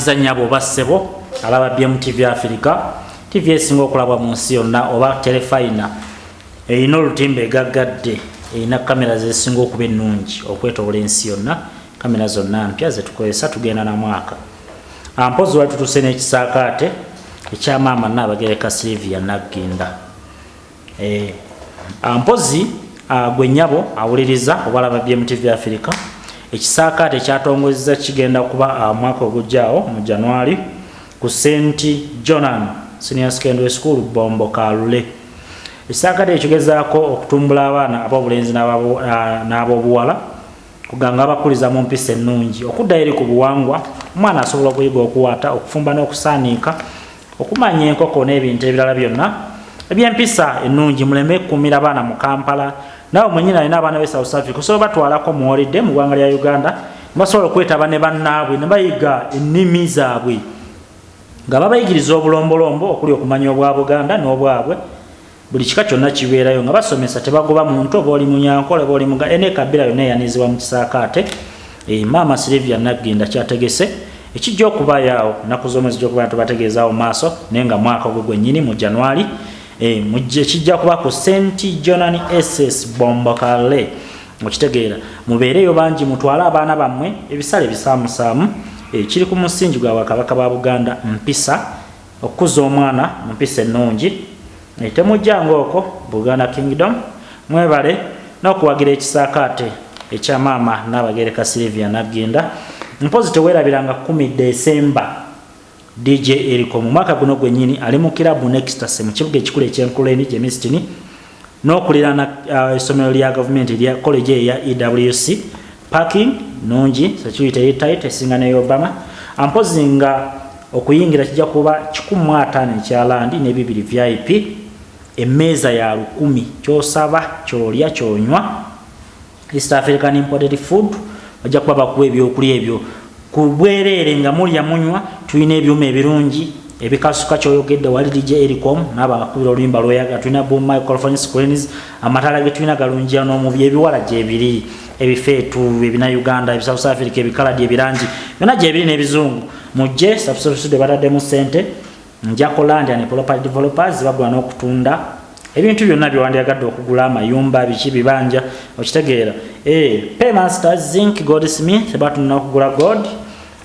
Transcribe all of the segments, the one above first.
Mbaza nyabo oba ssebo alaba BMTV Africa TV esinga okulabwa mu nsi yonna oba telefayina erina olutimba egaggadde erina kamera zesinga okuba ennungi okwetobola ensi yonna kamera zonna mpya zetukozesa tugenda na mwaka ampozi wali tutuse n'ekisaakaate ekyamaama naabagereka Silvia Nagginda eh, ah, mpozi ah, gwe nyabo awuliriza obalaba bmtv africa ekisaakaate ekyatongozeza kigenda kuba ah, mwaka ogujjaawo mu january ku st jonan senior secondary school bombo kalule ekisaakaate ekigezaako okutumbula abaana ab'obulenzi n'ab'obuwala kuganga abakuliza mu mpisa ennungi okuddayo eri ku buwangwa omwana asobola okuyiga okuwaata okufumba n'okusaaniika okumanya enkoko n'ebintu ebirala byonna ebyempisa ennungi muleme kukuumira abaana mu kampala naawe mwenyini alina abaana be south africa osobola batwalako muwolidde mu ggwanga lya uganda basobola okwetaba ne bannaabwe ne bayiga ennimi zaabwe nga babayigiriza obulombolombo okuli okumanya obwa buganda n'obwabwe buli kika kyonna kibeerayo nga basomesa tebagoba muntu oba oli munyankole oba oli muga ene kabira yonna eyanizibwa mu kisaakaate e, maama silivia naggenda kyategese ekijja okubayaawo nnaku zoomu ezijja okuba tubategeezaawo maaso naye nga mwaka ogwe gwennyini mu januari e, ekijja kuba ku st jonan ss bombokale okitegeera mubeereeyo bangi mutwale abaana bammwe ebisale bisaamusaamu e, kiri ku musingi gwa bakabaka ba buganda mpisa okukuza omwana mu mpisa ennungi naye temujja ngaoko buganda kingdom mwebale n'okuwagira ekisaakaate ekya maama naabagereka silivia nagginda mpozi tewerabiranga kumi desemba dj eriko mu mwaka guno gwennyini ali mu kirabu nextase mu kibuga ekikulu ekyenkuleni gyemistini n'okulirana uh, essomero lya gavumenti lya koleji eya ewc parking nungi security eri tight esinga ne obama ampozi nga okuyingira kijja kuba kikumu ataano ekyalandi n'ebibiri vip emmeeza ya lukumi kyosaba kyolya kyonywa east african imported food bajja kuba bakuwa ebyokulya ebyo ku bwereere nga mulya munywa tulina ebyuma ebirungi ebikasuka kyoyogedde wali dj ericom naabo abakubira oluyimba lweyaga tulina boom microphone screens amataala getulina galunjia n'omubi ebiwala gyebiri ebifeetu ebina uganda ebisouth africa ebikaladi ebirangi byona gyebiri n'ebizungu mujje subscribe studio bataddemu sente Njako Land and Property Developers bagula n'okutunda ebintu byonna byewandyagadde okugula amayumba biki bibanja okitegeera eh, paymaster zinc gold smith batunda okugula gold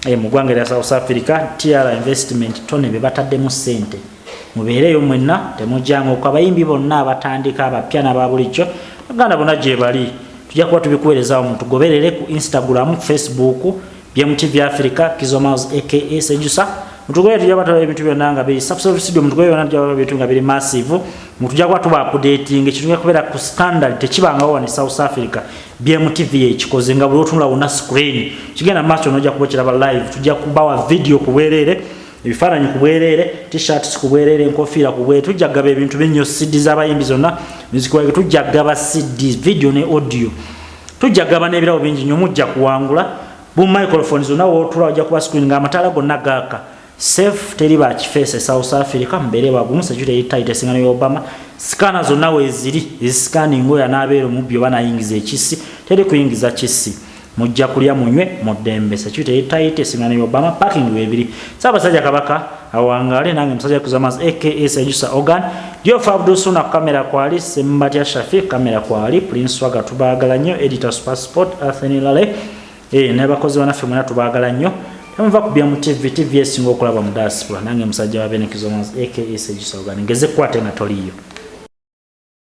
eh, mu ggwanga erya south africa tr investment tone be bataddemu ssente mubeereeyo mwenna temujanga oku abayimbi bonna abatandika abapya nababulijjo aganda bona gyebali tujja kuba tubikuweerezaawo mutugoberere ku instagram facebook Byamu TV Africa Kizo Miles aka Sejusa mutugwe tujja bataba ebintu byonna nga biri subscribe studio mutugwe byonna tujja bataba ebintu nga biri massive mutujja kwa tuba updating ekintu kubera ku standard tekibanga wa ne South Africa Byamu TV ekikoze nga buli otunula wona screen kigenda macho noja kuba kiraba live tujja kubawa video kuwerere ebifaananyi ku bwereere tishirts ku bwereere enkofiira ku bwereere tujja kugaba ebintu binnyo cd z'abayimbi zonna muziki waige tujja kugaba cd video ne audio tujja gabana ebirabo bingi nyo mujja kuwangula bu microphone zona wotula wajja kuba screen nga amatala gonna gaka safe teri ba kifese south africa mbere bagumu security yita itesingano ya obama sikana zona weziri isikani ngoya nabero mubbi oba nayingiza ekisi teri kuyingiza kisi mujja kulya munywe mudembe security yita itesingano ya obama parking webiri saba saja kabaka awangaale nange musajja kuzamaz aka sejusa organ jofa abdusuna kamera kwali sembatya shafi kamera kwali prince waga tubaagala nnyo editor super sport athenilale e, nabakozi banaffe mwena tubaagala nnyo emuva ku bya mu tv tv esinga okulaba mu diaspora nange musajja wa benekizamaz aka sejusa organ ngeze kukwate nga toliyo